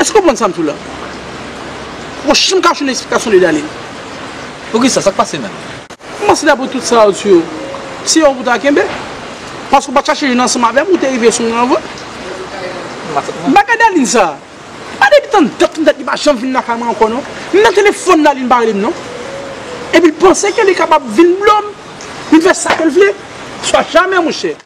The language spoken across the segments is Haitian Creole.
Èske ou konprann sa m di w la? Bon, si m ka jwenn yon esplikasyon de Dany. Poukisa? Sa k pase menm? M panse dapre tout sa ou di yo, se yon w pou ta kenbe. Paske ou pa t chache jwenn ansanm avè m, ou te rive sou mwen anvan. Bagay Daline sa, pa depi tann dat tann dat li pa janm vin lakay mwen ankò non. Menm nan telefòn Daline pa rele m non. Epi l panse ke li kapab vin blo m, vin fè sa ke l vle. Swa jamè monchè.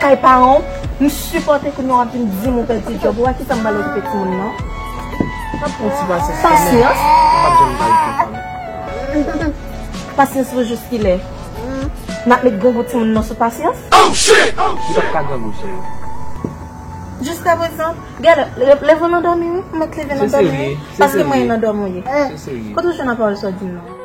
Kay paran w, m sipòte kounye w ap vin di m ou pèdi djòb ou, wè kitan m bal okipe timoun nan. Pasyans. Pasyans pou jous kilè? N ap met grangou timoun nan sou pasyans? Jiska prezan, gèlè, leve w nan dòmi wi, ou mèt leve nan dòmi wi, paske mwen nan dòmi w ye. Kote w jwenn an pawòl sa w di m nan?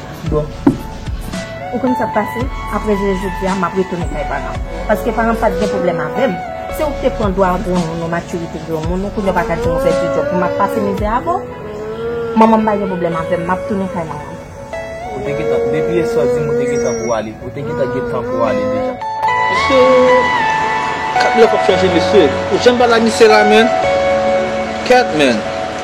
Bon Ou konn sak pase aprè jounen jodia map retounen kay paranm paske paranm pat gen pwoblèm avèm se ou ki te pran dwa granmoun ou matirite granmoun ou kounya ou paka dim ou pèdi djòb pou map pase mizè avè w manmanm pa gen pwoblèm avèm map tounen kay manmanm. Ou te gentan depi yè swa dim ou te gentan pou ale ou te gentan gen tan pou ale deja. Mesye kap lèw pap chanje mesye ou janm pa la misye la menn kèt menn.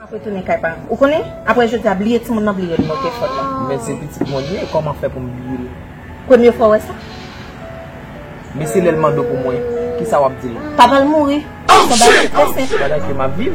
Map retounen kay pa m ou konnen aprè jodi a bliye timoun nan bliye nimewo telefòn lan. Men se pitit mwen li ye kòman fè pou m bliye l. Premye fwa w wè sa? Men se lè l mande w pou mwen kisa wap di l. Papa l mouri. Son bagay ki trè senp. Bagay ke map viv.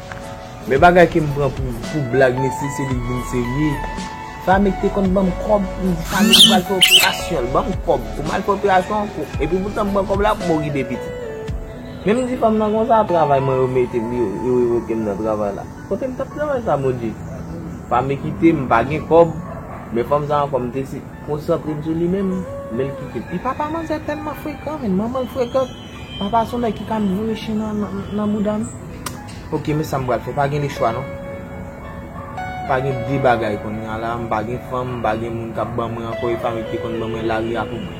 Men bagay kem pran pou blag mesye se li vin serye. Fami te konn banm kob poum di fami m pral fè operasyon l banm kob poum al fè operasyon an kou epi poutan m pran kob la poumo gide pitit. Men m di fanm nan konsa travay mwen yo mete m yo revoke m nan travay la. Kote m tap travay sa Bondye. Fami kite m m pa gen kob men fanm sa ankò m te konsantre m sou li menm men l kite m. Epi papa manzè tèlman frekan men manman l frekan. Papa son nèg ki ka mure chen nan boudam. Ok men sam pral fè pa gen le chwa non. Pa gen de bagay konnya la m pa gen fanm m pa gen moun kap ban mwen ankò e fanm ki te konn ban mwen lari a pou mwen.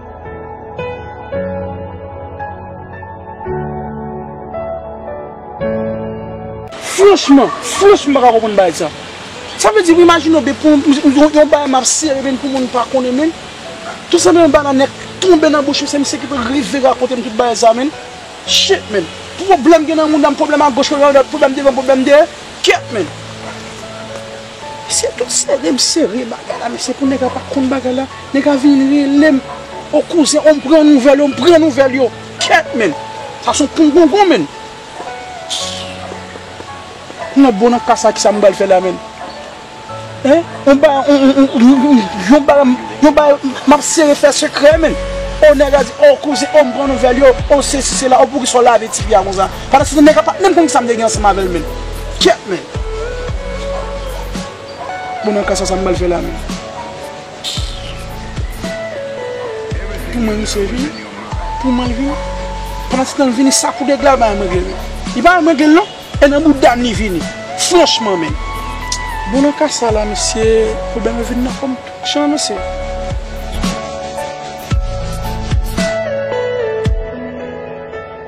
Franchman, franchman m pa ka konprann bagay sa. Sa vle di m imajine w depi w yon bagay m ap sere men pou moun pa konnen men. Tout sanble yon banane k tonbe nan bouch m se misye ki pou rive rakonte m tout bagay sa men. Shit men. Pwoblèm gen nan mouda m, pwoblèm agoch, pwoblèm adwat, pwoblèm devan, pwoblèm dèyè. Kèt men. Se tout sere m sere bagay la men se pou nèg la pa konn bagay la nèg la vin rele m o kouzen o m pran nouvèl yo m pran nouvèl yo kèt menn sa son pongongon menn m nan bon nan ka sa kisa m bal fè la menn hein on ba yon ba yon ba m ap sere fè sekrè menn o nèg la di o kouzen o m pran nouvèl yo o sesi sela o poukisa w lave ti piya konsa. Pandan se tan nèg la pat menm konn sam te gen ansanm avèl menn kyèt menn Bon nan ka sa sam bal fè la menn Pou mwen misye vini Pou mwen l vini Pandan se tan l vini sa kou nèg la al bay mrengle menn Li pa al mrengle l non E nan boudam li vini Franchman menn Bon nan ka sa la misye Pwoblèm yo vin nan kòm Jan nou se.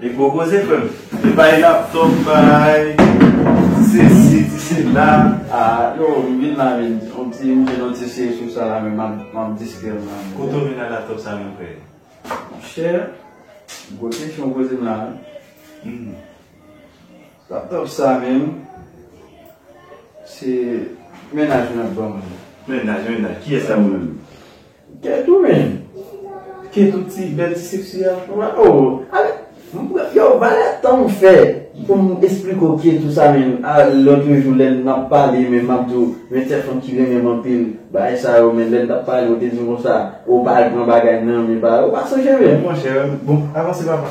Li gwo koze frem. Li bay laptop bay ti sesi ti sela. Ah yo m vin la vin yon ti m vin yon ti siye sou sa la menm map distrèm la. Kote w vin ak laptop sa menm frè? Monchè gwo kesyon w poze m la wi. Laptop sa menm se mennaj mwen ap banm li. Mennaj mennaj kiyès sa menm. Kèt ou menm. Kèt ou ti bèl ti seksi a oh ale yow valè tanm fè poum esplike w kèt ou sa menm a lotre jou lè nap pale menm map di w men ti fanm ki renmen m anpil bagay sa yo men lè nap pale ou te di m konsa ou pa al pran bagay nan men pa ou pa sonje menm. Monchè bon avanse papa.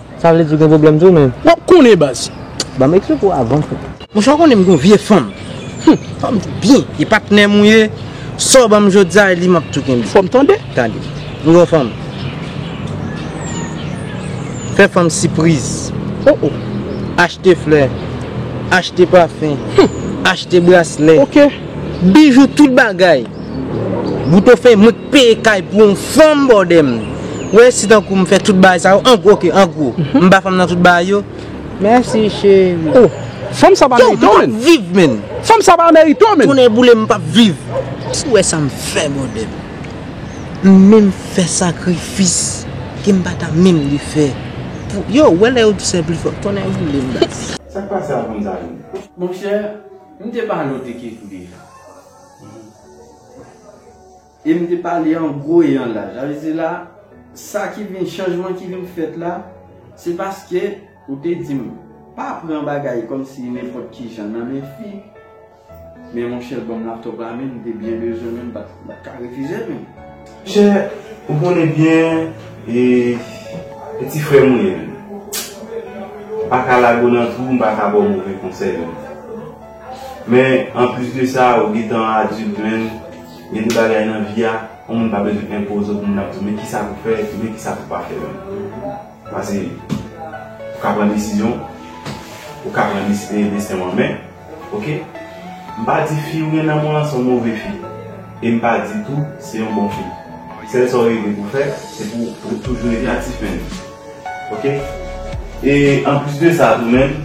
Sa vle di ou gen problem tou menm. Wap konnen baz. Banm ekri pou avan tou. Monche ou konnen m gon vye fanm. Humm fanm tou byen. E patnèm ou ye. Sa ou banm jodia e li map tou kenbe. Fòm tande. Tande. M gon fanm. Fè fanm sipriz. Oh oh. Achte flè. Achte pafen. Humm. Achte braslè. Ok. Bijou tout bagay boutofen mwen k peye kay pou yon fanm bòdè m wè si tankou m fè tout bagay sa yo ank ok angwo m ba fanm nan tout bagay yo mèsi cheri oh fanm sa pa merite w menn fanm sa pa merite w menn tonnè boule m m pap viv si w wè sa m fè bòdè m m menm fè sakrifis ke m pa ta menm dwe fè pou yo wè lè yo di sè pli fò tonnè boule m baz. Sak pase avm zanmim. Monchè M te pale w de Kekou deja. E m te pale an gwo e an laj. Sa vle di la, sa ki vin, chanjman ki vin fèt la, se paske ou te di m, pa pran bagay kòm si nenpòt ki jan nan men fi. Men monchè, ban m laptop la menm, m te byen bezwen menm, m pa t ka refize l menm. Chè ou konnen byen e peti frèm ou ye m pa ka lage w nan twou m pa ka ba w move konsèy menm men anplis de sa ou gentan adilt menn gen de bagay nan vi a yon moun pa bezwen enpoze w pou moun ap di w men kisa pou fè epi men kisa pou pa fè menm pase ou ka pran desizyon ou ka pran desten w an men. Ok m pa di fi ou gen nan menw lan son move fi e m pa di tou se yon bon fi sèl sa ou rive pou fè se pou ou toujou rete aktif menn ok e anplis de sa tou menn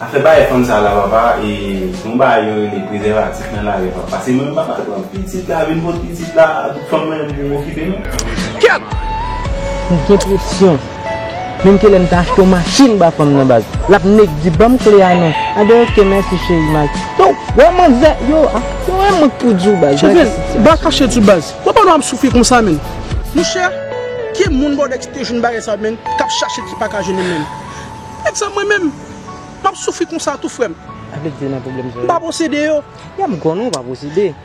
afè bagay fanm sa la papa e yon bagay yo rele prezèvatif nan lari papa pase mwen m pa pral pran pitit la vin pot pitit la tout fanm nan yo pou okipe nou. Kèt! M gen presyon. Menm ke lèm ta achte yon machin ba fanm nan baz lap neg di banm kle a non a de ok mèsi cheri mal yo wè manzè yo ah yo wè mank pou diw baz gade ki sityasyon. Ba kache tu baz. Wè pandan wap soufri konsa menn. Monchè ki moun bòdè ki te jwenn bagay sa menn kap chache ki paka jwenn li menm nèg sa mwen menm map soufri konsa tou frèm Avle diw nan pwoblèm sa yo. Mpa posede yo. Yap gou non ou pa posede.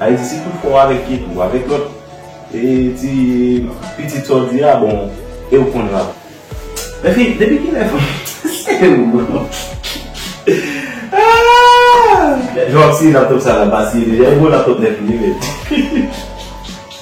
Ayiti tou fò avèk ki tou avèk lòt e ti pitit sa w di a bon e w konn rap. Men fi depi kilè fanm se ou bon aah. Job si laptop sa la pa siye deja e gwo laptop nèf li ye menm.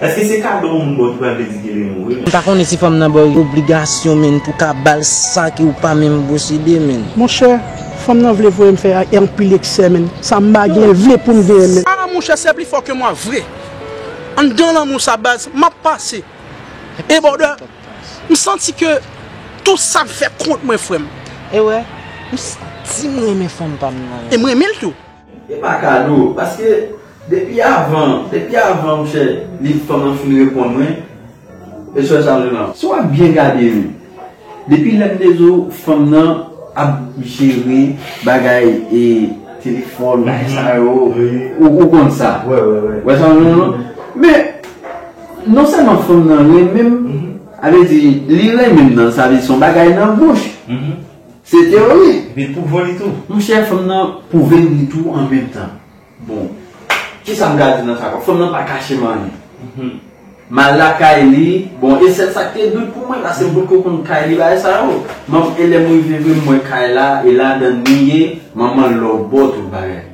Eske se kado moun baw ki pral vle di kele mou wi. M pa konnen si fanm nan baw yon obligasyon menn pou ka bal sa ki ou pa menm posede menn. Monchè fanm nan vle voyem fè anpil eksè menn sa m pa gen vle poum genyen menn. Ah monchè sè pli fò ke mwa vre anndan lanmou sa baz map pase e bòdè m santi ke tout sa fè kont mwen frèm. Ewè m santim renmen fanm pam nan. E m renmenl tou. E pa kado, paske depi avan, depi avan mouche li fanm lan fin reponn mwen, e sèl sa mwen menm ap. Si wap byen gade wi, depi lèm te di w fanm lan ap jere bagay e telefòn bagay sa yo, ou konn sa. Ou wè sa mwen menm lan? Men, non sèlman fanm lan renmen m, sa vle di li renmen m nan sa vle di son bagay nan bouch. Se teori. Epi l pwouvo li tou. Monchè fanm nan pwouve l li tou an menm tan. Bon. Kisa m ka di nan sa kon. Fanm nan pa kache m anyen. M al lakay li. Bon e sèl sa k te dout pou mwen la se m potko konn kay li bagay sa yo. M ap e lè m rive vre m wè kay la e ladan l li ye. Manman l lòbò tout bagay.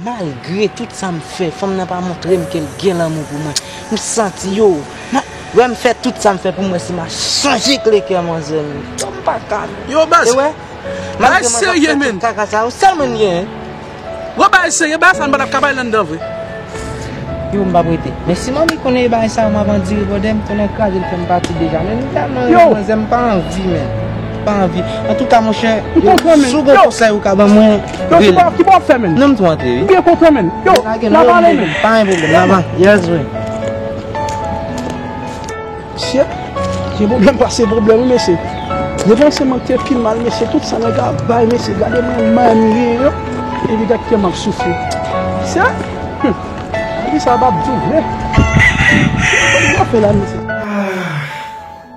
Malgre tout sa m fè, fanm nan pa montre m ke l gen lanmou pou mwen. M santi yo. M ap. Wè m fè tout sa m fè pou m wè si m a chanje kle kè manzè m yo. M pa ka. Yo baz. Ou wè? Malgre mwen t ap fè tout kaka sa yo, sèl mwen m genyen. Yo bagay serye, bagay sa nou pa t ap ka bay landan vre. Yo m pa prete. Men si manmi konnen e bagay sa yo m ap andire bòdè m konnen l kraze l fè m pati deja. Men m tèlman renmen manzè m pa anvi menm. M pa anvi. Antouka monchè, si w gen konsèy ou ka ban mwen. Yo ki bò ki bò wap fè menn. Nan m tou antre wi. M byen kontan menn. Yo la pale menn. Pa gen problem la va. Yes vre. Mesye gen problem pase problem wi mesye. Depanse man te pi mal mesye tout sa nèg la bay mesye gade man man m gen yo epi gad kèm ap soufri. Mesye humm gade sa bab di vre. Mesye gade sa bab di vre.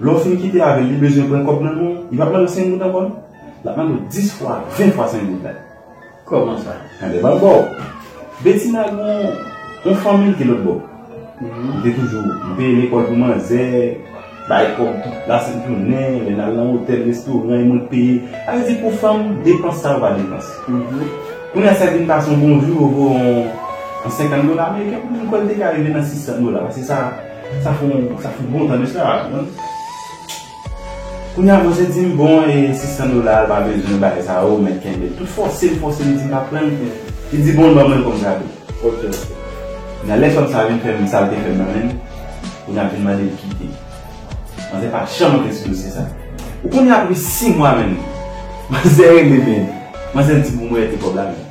Lè w fin kite avè l, li bezwen pran kòb nan men w, li pap mande w 5 goud ankò non. Lap mande w 10 fwa, 20 fwa 5 goud la. Kòman sa? Tande bal ba w. Betina gen yon fanmi ki lòt bò. Li te toujou peye lekòl pou manzè, bay kòb tout lasent jounen, lè n al nan otèl, restoran, e mwen k peye. Sa vle di pou fanm, depans sa yo pa depans. Kounye a sa vin pase yon bon jou, yo voye yon 50 dola ameriken, m kwè l te ka rive nan 600 dola. Se sa. Sa fon sa fout bon tande sa a man. Kounya manzè dim bon e 600 dola l pa bezwen bay sa yo mèt kenbe l tout fòse l fòse li dim pa prann li di bon l ban mwen kòm kado ok ok kounya lè fanm sa vin fè m sa l te fè m nan menm kounya ap vin mande l kite manzè pa janm antre sou dosye sa ou konnen apre 6 mwa menm manzè rele men manzè di pou mwen te kòb la menm.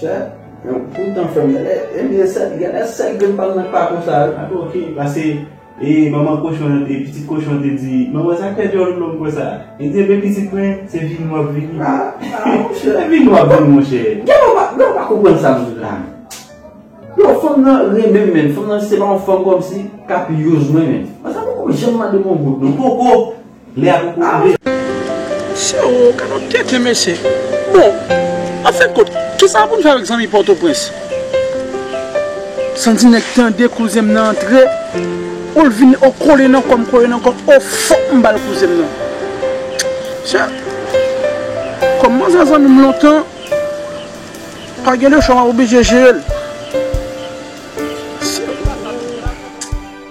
Chè men w tout tan fè m pè. E m se sèl genlè sèl grenn pa m nan k pa konsa wi. Ape ok pase e manman kochon an e pitit kochon an te di manman sa k fè dyòl ou long konsa. Li di enben pitit mwen se vini w ap vini. A a monchè. Se vini w ap vini monchè. Gen lè w pa konprann sa m di la menm. Yo fanm nan renmen m menn fanm nan se pa yon fanm kòmsi k ap use mwen menn. Sa m poko janm mande m yon goud non poko. Lè a poko rive. Sewou kalòt tenten mesye. Bon an fen kont kisa poun fè avèk zanmi pòtoprens. Santi nèg tande kouzem nan antre poul vin o kole nan kòm kole nan kòm o fòk m bal kouzem nan mesye kòm manzè zanmim lontan pa gen lechwa map oblije jerel.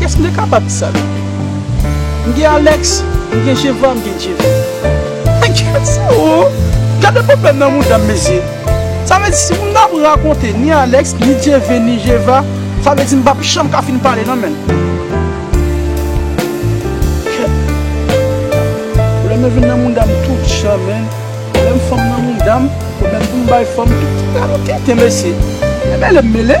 Kès m te kapab di sa de li? M gen Alex, m gen Jeva, m gen Jeve. Men gad sa o! Gade pwoblèm nan mouda m mesye! Sa vle di si moun nan ap rakonte ni Alex, ni Jeve, ni Jeva, sa vle di m pap janm ka fin pale nan menm. Kè! Pwoblèm yo vin nan mouda m tout jan menn. Pwoblèm fanm nan mouda m, pwoblèm pou m bay fanm tout. Gade yon tenten mesye! Mele m mele!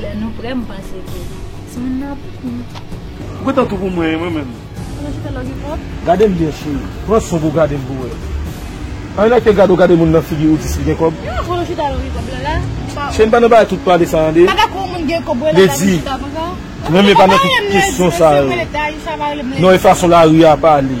Lè nou prè m panse ke timoun nan ap vini. Ou gentan tou pou mwen mwen menm. Koman se fè love you pop. Gade l byen cheri. Pran son pou gade l pou wè. Anh like te gade w gade moun nan figi ou di sil gen kob. Yon bon chita love you pop la la. Cheri m pa nan bagay tout pale sa an de. Bagay pou yon moun gen kob wè nan bagay tout chita konsa. Mwen menm e pa nan tout kesyon sa yo. Non e fason lari a pale.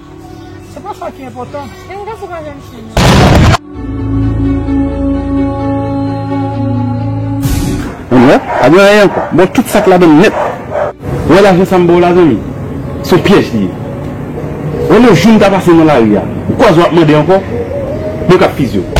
Se pa sa ki enpòtan. E m tankou pa janm chanje an. Anmwey, pa gen anyen ankò. Baw tout sak ladann nèt. Ou wè lajan sam baw la zanmi? Son pyèj li ye. Wè lè joum ta pase nan lari a. Ou kwaze wap mande ankò? Mwen kap fizye w.